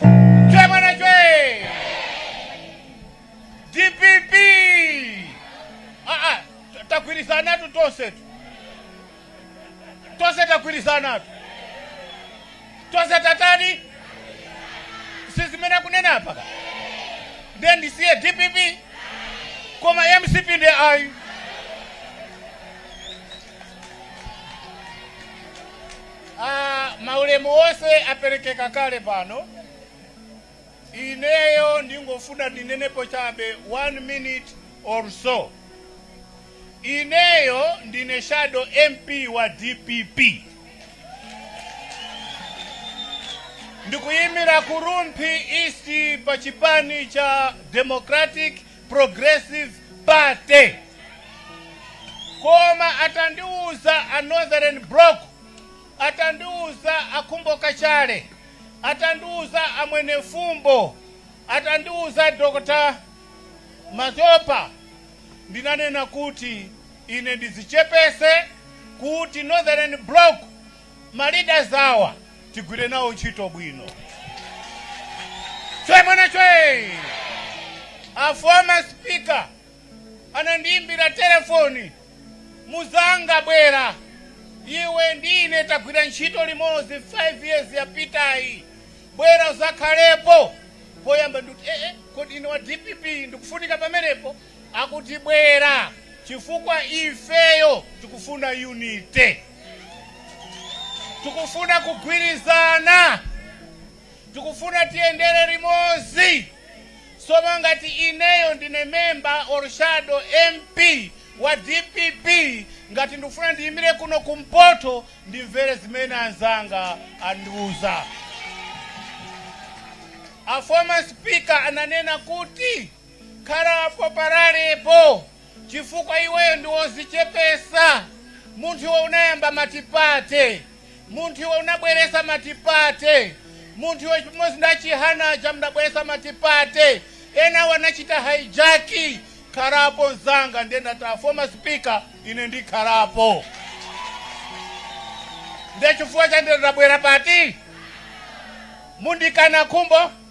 Chwe mwana chwe! DPP! Ah, ah, t- tagwirizanatu tonsetu. Tonse tagwirizanatu. Tonse tatani? Si zimene akunena apa ka? Ndiye ndisiye DPP? Koma MCP nde ayi. A, maulemu wonse aperekeka kale pano. Ineyo ndingofuna ndinenepo chabe 1 minute or so. Ineyo ndine shadow MP wa dpp. Ndikuyimira ku Rumphi East pa chipani cha Democratic progressive party koma atandiuza a northern block atandiuza a Khumbo Kachali atandiuza a Mwenifumbo atandiuza dr mazopa ndinanena kuti ine ndizichepese kuti northern block Ma leaders awa tigwire nawo ntchito bwino. Chwe mwana chwe! A former speaker anandiimbira telefoni, Muzanga bwera, iwe ndi ine tagwira ntchito limodzi 5 years yapitayi, bwera uzakhalepo. Poyamba ndikuti, eeh, kodi ine wa dpp ndikufunika pamenepo? Akuti bwera chifukwa ifeyo tikufuna unity. Tikufuna kugwirizana. Tikufuna tiyendere limodzi. Sono ngati ineyo ndine member or shadow MP wa dpp ngati ndikufuna ndiyimire kuno kumpoto ndimvere zimene anzanga andiuza. A former speaker ananena kuti. Khalapo paralepo chifukwa iweyo ndi wozichepesa, munthu iwe unayamba multiparty, munthu iwe unabweresa multiparty, munthu iwe chimozi ndi a Chihana aja munabweresa multiparty, enawo anachita hijack, khalapo nzanga ndiye ndati a former speaker ine ndikhalapo ndiye chifukwa chake ndabwera pati? Mundikana Khumbo?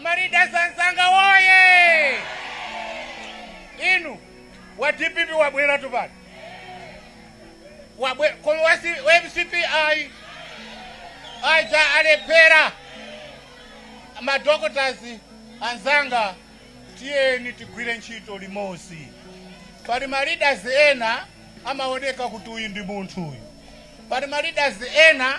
Ma leaders anzanga woyee! Ine wa dpp wabweratu pano wabwe koma wa C- wa mcp ayi aja alephera madoctors anzanga tiyeni tigwire ntchito limodzi pali ma leaders ena amaoneka kuti uyu ndi munthu uyu pali ma leaders ena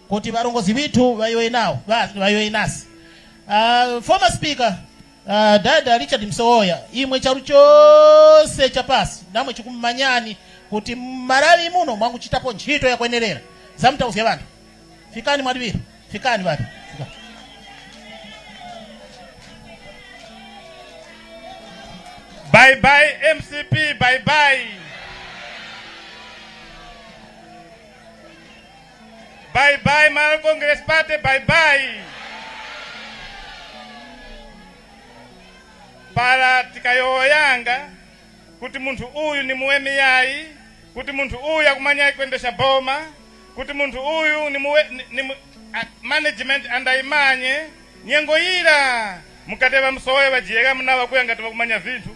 Kuti varongozi vithu vaiwe nao basi vaiwe nasi uh, former speaker uh, dada Richard Msowoya imwe charu chose chapasi namwe chikumanyani kuti mmarawi muno mwanguchitapo ntchito yakwenerera zamtauzya vantu fikani mwadivira fikani vati Bye bye MCP, bye bye. Bye bye Malawi Congress Party, bye bye. Pala tikayowoyanga kuti munthu uyu ni muwemi yayi, kuti munthu uyu akumanya kwendeska boma, kuti munthu uyu ni muwe, ni, ni, mu- a- management andayimanye nyengo ira mukateva Msowoya vajiyeka munawakhuya ngati vakumanya vinthu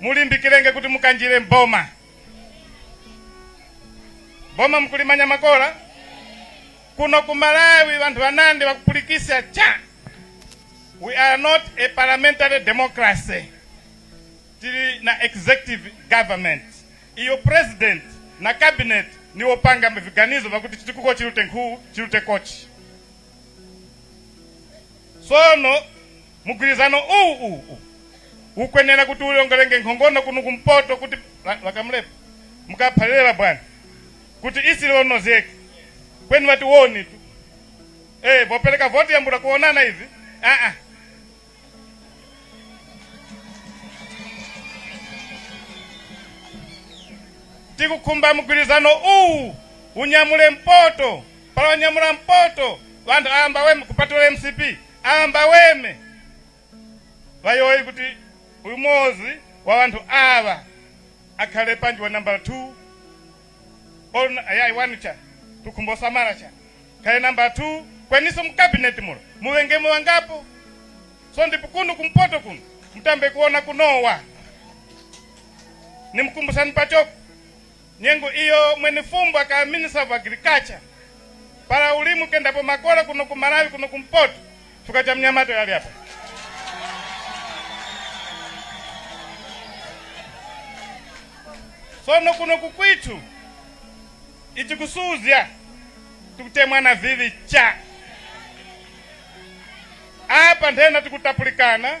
mulimbikirenge kuti mukanjire mboma boma mkulimanya makola kuno ku malawi vanthu vanandi vakupulikisa cha we are not a parliamentary democracy tili na executive government iyo president na cabinet niwo panga viganizo vakuti chitukuko chilute nkhuwu chilute kochi sono Mugwirizano uwu uwu uwu ukwenera kuti uyongolenge nkhongono kuno kumpoto kuti la, la Kamlepo mukaphalirela bwana kuti isilionozeke kweni wati woni tu eh vopereka voti yambura kuonana ivi ah ah tikukhumba mgwirizano uwu unyamule mpoto pala wanyamula mpoto wanthu ayamba we kupatula mcp Ambaweme bayoi kuti uyu mozi wa wanthu awa akhale panji wa nambala 2 or ayai 1 cha tukhumbo samala cha khale nambala 2 kweniso mu cabinet mulo muwengemo wangapo so ndipo kuno kumpoto kuno mutambe kuona kunowa nimukumbusani pachoko Nyengo iyo Mwenifumbo akawa minister of agriculture pala ulimu kendapo makola kuno ku Malawi kuno ku mpoto chifukwa cha mnyamata uyu ali apa. Sono kuno ku kwitu ichi kusuzya tikutemwa navivi cha apa nthena tikutapulikana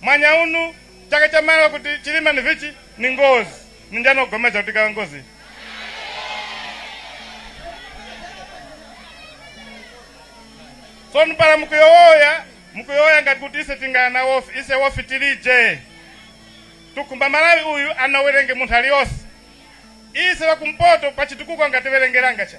mwanya unu chaka cha malo kuti chilima ni vichi ni ngozi ni njani ogomeza kuti kala ngozi soni pala mukuyowoya mukuyowoya ngati kuti ise tingana wofi ise wofi tilije tukumba malawi uyu anawerenge munthu aliyonse ise wakumpoto pachitukuko angatiwerengeranga cha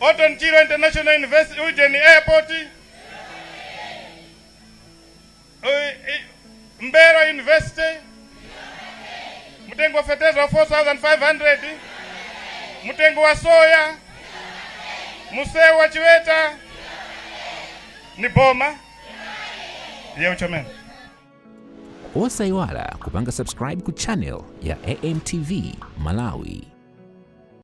Orton Chirwa International University Ujeni Airport, Mbelwa University, mtengo wa fertilizer wa 4500 mtengo wa soya msewu wa Chiweta ni boma yeuchomeni osayiwala kupanga subscribe ku channel ya amtv malawi